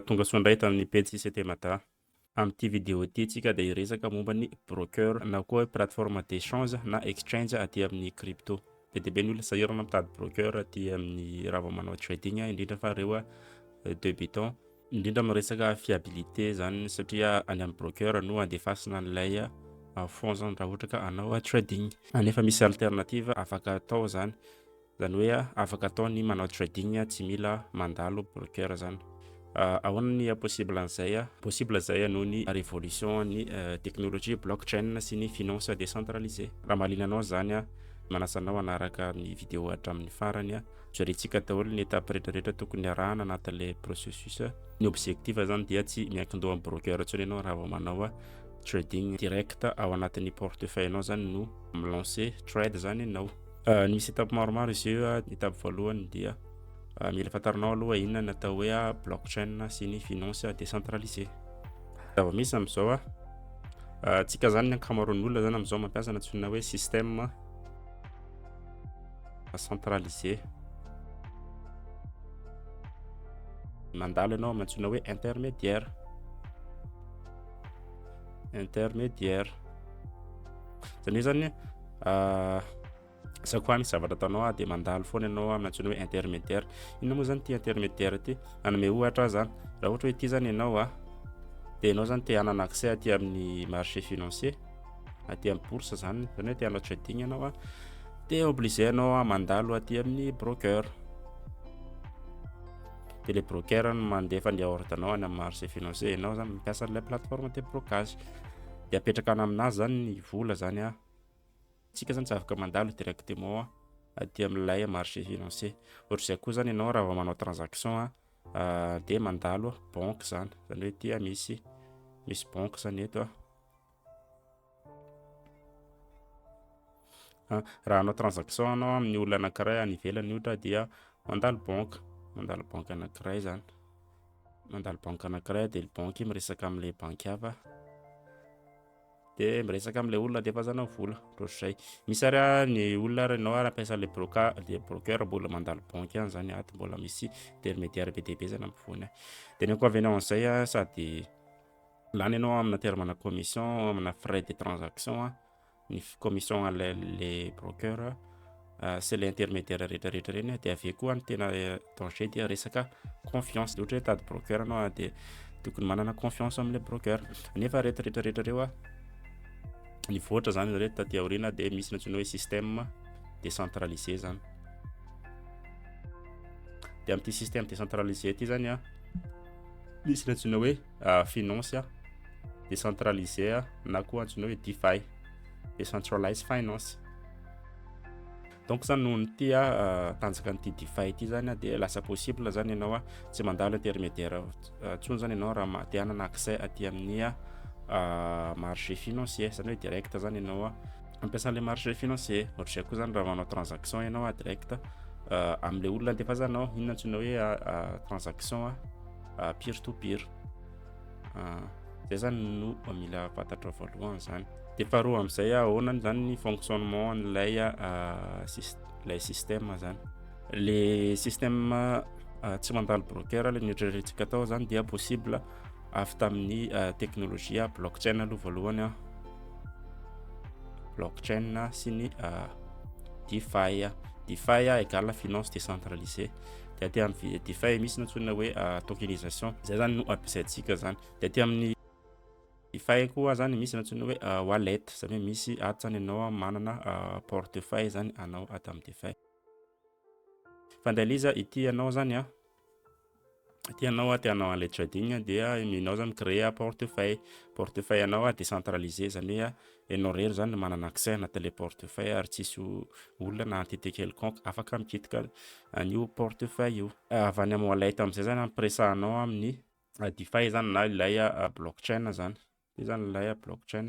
Tongasoa indray tamin'ny pejy CT Mada. Amin'ity vidéo ity isika dia hiresaka momba ny broker na koa hoe plateforme d'échange na exchange aty amin'ny crypto. Be dia be ny olona sahirana mitady broker aty amin'ny raha vao manao trading indrindra fa ireo débutants. Indrindra amin'ny resaka fiabilité izany satria any amin'ny broker no andefasina an'ilay fonds izany raha ohatra ka hanao trading. Nefa misy alternative afaka atao izany. Zany hoe afaka atao ny manao trading tsy mila mandalo broker zany. Ahoana ny possible an'izay? Possible zay noho ny révolution an'ny technologie blockchain sy ny finance décentralisée. Raha mahaliana anao zany, manasa anao hanaraka ny vidéo hatramin'ny farany. Jerentsika daholo ny étape retraretra tokony arahana anatin'ilay processus. Ny objectif zany dia tsy miankindoha amin'ny broker intsony ianao raha vao manao trading. Direct ao anatin'ny portefeuille anao zany no mi-lancer trade zany ianao. Ah, misy étape maromaro izy io. Ah, étape voalohany dia ah, mila fantarinao aloha inona ny atao hoe ah, blockchain sy ny finance décentralisée. Zava-misy amin'izao ah, ah, tsika zany ny ankamaroan'ny olona zany amin'izao mampiasa ny antsoina hoe système centralisé. Mandalo ianao amin'ny antsoina hoe intermédiaire. Intermédiaire. Zany hoe zany za koa misy zavatra ataonao a de mandalo foana ianao amin'ny antsoina hoe intermédiaire inona moa zany ity intermédiaire ity hanome ohatra zany raha ohatra hoe ity zany ianao a de ianao zany te hanana accès aty amin'ny marché financier aty amin'ny bourse zany zany hoe te hanao trading ianao a de obligé ianao a mandalo aty amin'ny broker de le broker no mandefa ny ordre anao any amin'ny marché financier ianao zany mampiasa an'ilay plateforme de blocage dia apetraka any aminà zany ny vola zany a tsika zany tsy afaka mandalo directement aty amin'ilay marché financier ohatr'izay koa zany ianao raha vao manao transaction a ah, dia mandalo banque zany zany hoe tia misy misy banque zany eto a Raha hanao transaction anao amin'ny olona anankiray any ivelany ohatra dia mandalo banque, mandalo banque anankiray zany, mandalo banque anankiray dia ny banque miresaka amin'le banque hafa dia miresaka amin'le olona andefasana vola ohatr'izay. Misy ary ny olona ary ianao ary ampiasa le broca- le broker mbola mandalo banque any zany ato mbola misy intermediaire be dia be zany ampovoany any. Dia ny inconvenient an'izay a sady lany ianao amina terme-na commission, amina frais de transaction. ny commission le le broker sy le intermédiaire rehetra rehetra ireny dia avy eo koa ny tena danger dia resaka confiance dia ohatra hoe tady broker anao a dia tokony manana confiance amin'ilay broker nefa rehetra rehetra rehetra ireo a nivoatra zany zareo taty aoriana dia misy ny antsoina hoe système décentralisé zany dia amin'ity système décentralisé ity zany a misy ny antsoina hoe uh, finance uh, décentralisé uh, na koa antsoina hoe DeFi, decentralized finance. Donc zany noho ny tia uh, tanjaka an'ity DeFi ity zany dia lasa possible zany ianao a tsy mandalo intermédiaire intsony zany ianao raha ma- te hanana accès aty amin'ny uh, marché financier zany hoe direct zany ianao a ampiasan'le marché financier ohatr'izay koa zany raha manao transaction ianao a direct uh, amin'le olona andefazanao inona antsoina hoe uh, transaction a ah, peer to peer ah, zay zany no mila fantatrao voalohany zany de faharoa am'izay ahoana zany ny fonctionnement an'ilay ah, lay système zany le système tsy mandalo broker le nitrerentsika atao zany dia possible avy tamin'ny technologie blockchain aloha voalohany a blockchain sy ny defi defi égale finance décentralisée dia aty amin'ny DeFi eh, misy nantsoina hoe ah, tokenisation zay zany no ampiasaintsika zany dia aty amin'ny DeFi koa zany misy nantsoina hoe ah, wallet zany hoe misy aty zany ianao manana ah, portefeuille zany anao aty amin'ny DeFi fandaliza ity ianao zany a Aty anao aty anao an'ilay trading dia enao zany créer portefeuille portefeuille anao a décentralisé zany hoe a enao rery zany no manana accès anaty ilay portefeuille ary tsisy olona na entité quelconque afaka mikitika an'io portefeuille io avy any amin'ny wallet amin'izay zany ampiresahanao amin'ny DeFi zany na ilay blockchain zany io zany ilay blockchain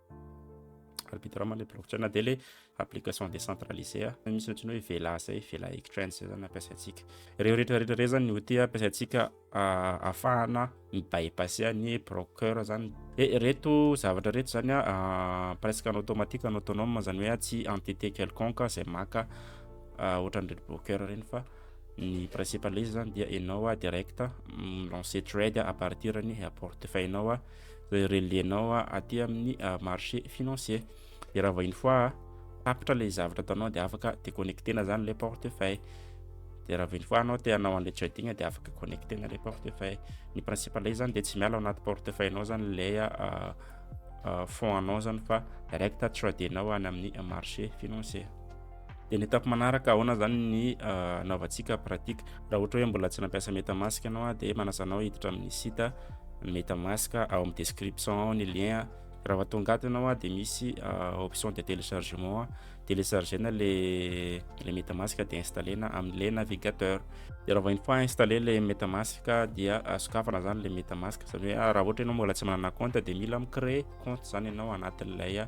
arbitrement le blockchain dia le application décentralisée ah. misy ohatrany hoe vela zay vela exchange zay zany ampiasaintsika ireo rehetra rehetra rey zany ny outil ampiasaintsika ah, ahafahana ny bypasse ny broker zany e eh, reto zavatra reto zany a ah, presque en automatique en autonome zany hoe tsy entité quelconque zay maka ah, ohatran'ireto broker reny fa ny principal izy zany dia enao a direct mm, lance trade a partir ny portefeuille nao a relais-nao aty amin'ny euh, marché financier de raha vahiny fois tapitra ilay zavatra ataonao dia afaka déconnecter-na zany ilay portefeuille de raha vahiny fois anao te hanao an'ilay trading dia afaka connecter-na ilay portefeuille ny principe ilay zany dia tsy miala ao anaty portefeuille-nao zany ilay euh, euh, fond anao zany fa direct trader-nao any amin'ny marché financier Dia ny étape manaraka ahoana zany ny anaovantsika pratique raha ohatra hoe mbola tsy nampiasa metamask ianao a dia manasa anao hiditra amin'ny site metamask ao amin'ny description ao ny lien raha vao tonga ato ianao a dia misy option de téléchargement a téléchargena le le metamask dia installena amin'le navigateur dia raha vao une fois installé le metamask dia sokafana zany le metamask zany hoe raha ohatra ianao mbola tsy manana compte dia mila mi-créer compte zany ianao anatin'ilay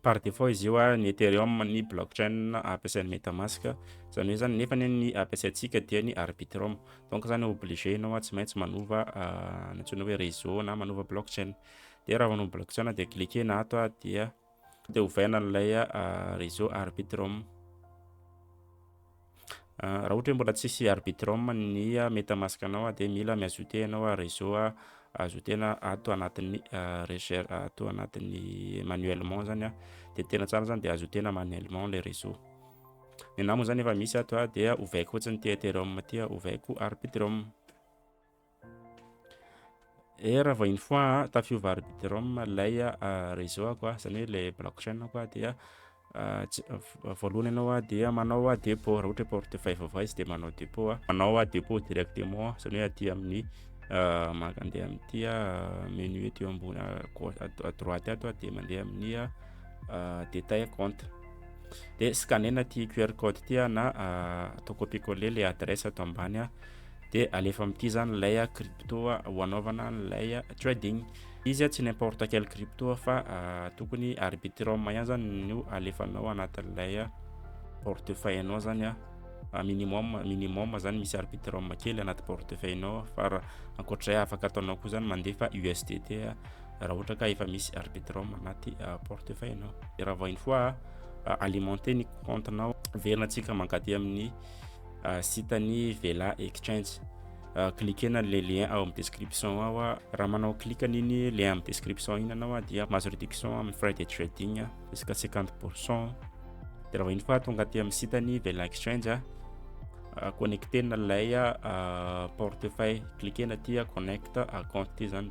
Par defaut izy io ny Ethereum ny blockchain ampiasain'ny Metamask izany hoe zany nefa ny ampiasaintsika dia ny Arbitrum donc zany obligé ianao tsy maintsy manova ny antsoina hoe réseau na manova blockchain dia raha manova blockchain dia cliquena ato dia dia ovaina an'ilay réseau Arbitrum Raha ohatra hoe mbola tsy hisy Arbitrum ny Metamask anao dia mila mi-ajouter ianao réseau ajoutena ato anatin'ny recherche ato anatin'ny manuellement zany dia tena tsara zany dia ajoutena manuellement le réseau. Ny anah moa zany efa misy ato dia ovaiko fotsiny ity Ethereum ity ovaiko Arbitrum. Eh raha vao une fois a, tafiova arbitrum ilay reseau-ako a, izany hoe ilay blockchain-ako a, dia voalohany ianao dia manao depot, raha ohatra hoe portefeuille vaovao izy dia manao depot a, manao depot directement izany hoe aty amin'ny mandeha amin'ity menu aty ambony à droite ato a, dia mandeha amin'ny détail compte, dia scanner-na ity QR code ity a na atao copier coller ilay adresse ato ambany a. de alefa amin'ity zany ilay crypto ho anaovana an'ilay trading izy tsy n'importe quel crypto fa tokony arbitrum ihany zany no alefanao anatin'ilay portefeuille anao zany a minimum minimum zany misy arbitrum kely anaty portefeuille anao fa ankoatr'izay afaka ataonao koa zany mandefa USDT raha ohatra ka efa misy arbitrum anaty portefeuille anao de raha vao une fois alimenter ny compte nao verina tsika mankaty amin'ny Sitan'ny Vela Exchange. Cliquer-na le lien ao amin'ny description ao. Raha manao clique an'iny lien amin'ny description iny ianao dia mahazo réduction amin'ny frais de trading jusqu'à 50%. Dia raha vahiny fa tonga aty amin'ny sitan'ny Vela Exchange, connecter-na ilay portefeuille. Cliquer-na aty connect account ity zany.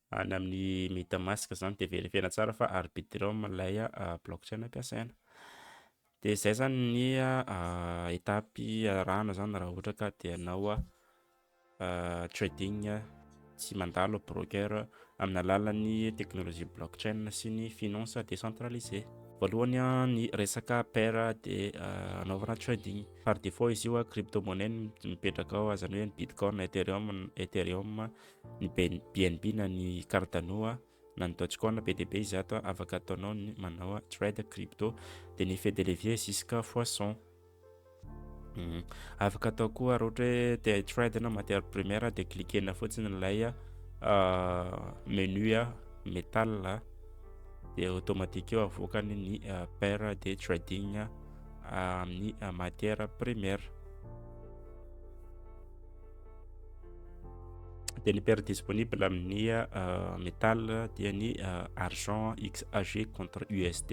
any amin'ny metamask zany de verifiena tsara fa arbitrum ilay blockchain ampiasaina de zay zany ny étape arahana zany raha ohatra ka de anao trading tsy mandalo broker amin'ny alalan'ny technologie blockchain sy ny finance décentralisée voalohany ny resaka paire de anaovana trading par défaut izy io crypto monnaie mipetraka ao azany hoe ny bitcoin ethereum ethereum ny bnb na ny cardano na ny dogecoin be dia be izy ato afaka ataonao ny manao trade crypto dia ny effet de levier jusqu'à fois 100 hmm. afaka atao koa raha ohatra hoe te trade na matière première dia cliquena fotsiny ilay ah, menu ah, metal ah. dia automatique eo avoakany ny paire de trading amin'ny matière première dia ny paire disponible amin'ny euh, metal dia ny euh, argent xag contre usd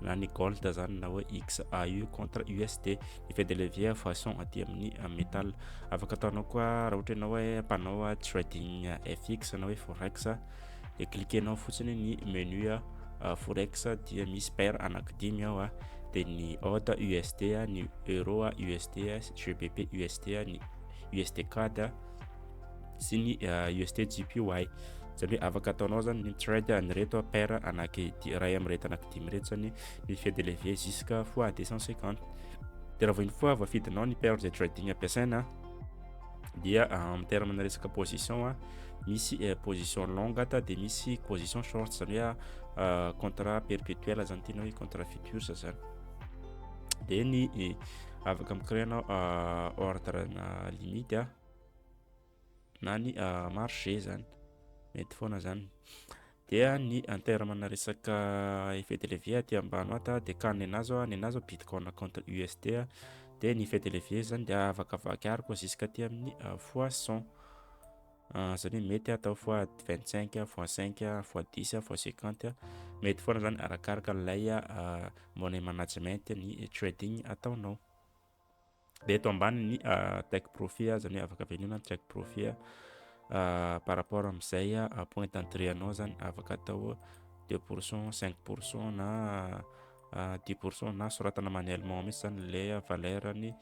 na ny gold zany na hoe xau contre usd ny fait de levier façon aty amin'ny euh, metal afaka ataonao koa raha ohatra ianao hoe mpanao trading fx na hoe forex dia cliquenao fotsiny ny menu a ah, forex dia misy paire anakidimy ao a ah. dia ny ota usd a ah, ny euro a usd a gbp usd a ny usd cad a sy ny usd gpy zany hoe afaka ataonao zany ny trade an'ireto paire anaky iray amin'ireto anakidimy ireto zany ny effet de levier jusqu'à fois 250 dia raha vao iny foa voafidinao ny paire izay trading ampiasaina dia ah, en terme na resaka position a ah, misy eh, position longue ata dia misy position short zany hoe ah, contrat perpétuel zany tena hoe contrat futur zany dia ny eh, afaka micréer anao ordre na limite a na ny marché zany mety foana zany Dia ny en terme na resaka effet de levier aty ambany ato dia ka nenazy aho nenazy aho bitcoin contre USD dia ny effet de levier zany dia avakavaky ary koa jusqu'à aty amin'ny euh, fois 100 euh, zany mety atao fois 25 fois 5 fois 10 fois 50 mety foana zany arakaraka ilay euh, money management ny trading ataonao dia eto ambanin' ny take profit ah, zany hoe afaka venona ny take profit ah, par rapport amin'izay point d'entrée anao zany afaka atao deux pour cent, cinq pour cent na dix pour cent na soratana manuellement mihitsy zany ilay valeur ny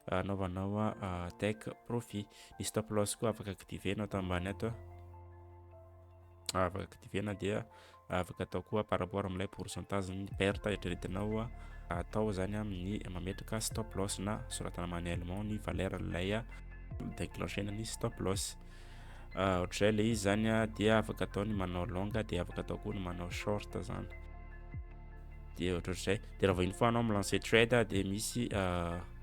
anaovanao take profit. Ny stop loss koa afaka activer nao ato ambany ato. afaka activena dia afaka atao koa par rapport amin'ilay pourcentage ny perte eritreretinao atao zany amin'ny mametraka stop loss na soratana manuellement ny valeur ilay déclenchena ny stop loss ohatr'izay le izy zany dia afaka atao ny manao longa dia afaka atao koa ny manao short zany dia ohatr'ohatr'izay dia raha vahiny foanao amin'ny lance trade dia misy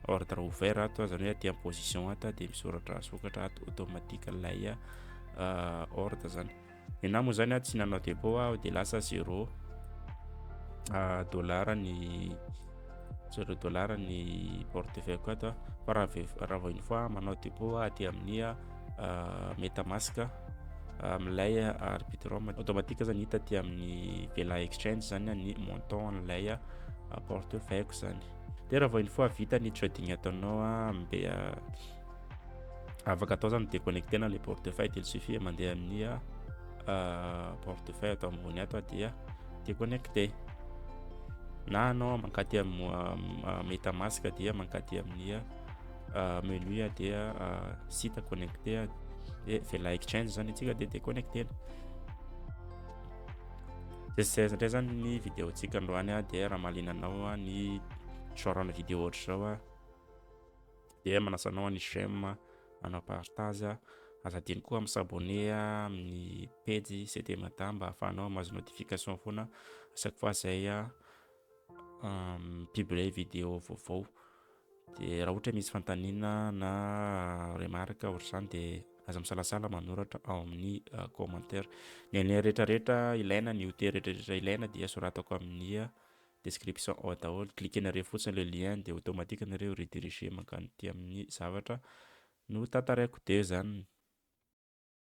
ordre ouvert ato zany hoe aty en position ato dia misoratra sokatra ato automatique ilay euh, ordre zany ena moa zany a tsy nanao dépôt aho de lasa zéro euh, dollar ny zéro dollar ny portefeuille ko ato fa raha vao une fois manao dépôt aty amin'ny euh, metamask amin'ilay arbitrum automatique zany hita aty amin'ny vela exchange zany ny montant an'ilay portefeuille ko zany de raha vao une fois vita ny trading ataonao a mbe afaka atao zany déconnecter na le portefeuille de il suffit mandeha amin'ny euh, portefeuille atao ambony ato dia déconnecter na anao mankaty amin'ny euh, metamask dia mankaty amin'ny euh, menu dia site connecter dia vela exchange zany atsika dia déconnecter zay zay zay zany ny vidéo tsika androany dia raha malinanao ny genre vidéo ohatr'izao dia manasa anao any j'aime manao partage aza adino koa mi s'abonner amin'ny pejy CT Mada mba ahafahanao mamazo notification foana à chaque fois zay mi-publier vidéo vaovao dia raha ohatra misy fanontaniana na remarque ohatr'izany dia aza misalasala manoratra ao amin'ny commentaire ny lien rehetrarehetra ilaina ny outils rehetrarehetra ilaina dia soratako amin'ny description ao daholo, cliquer-nareo fotsiny le lien dia automatique nareo rediriger mankany aty amin'ny zavatra no tantaraiko dia zany.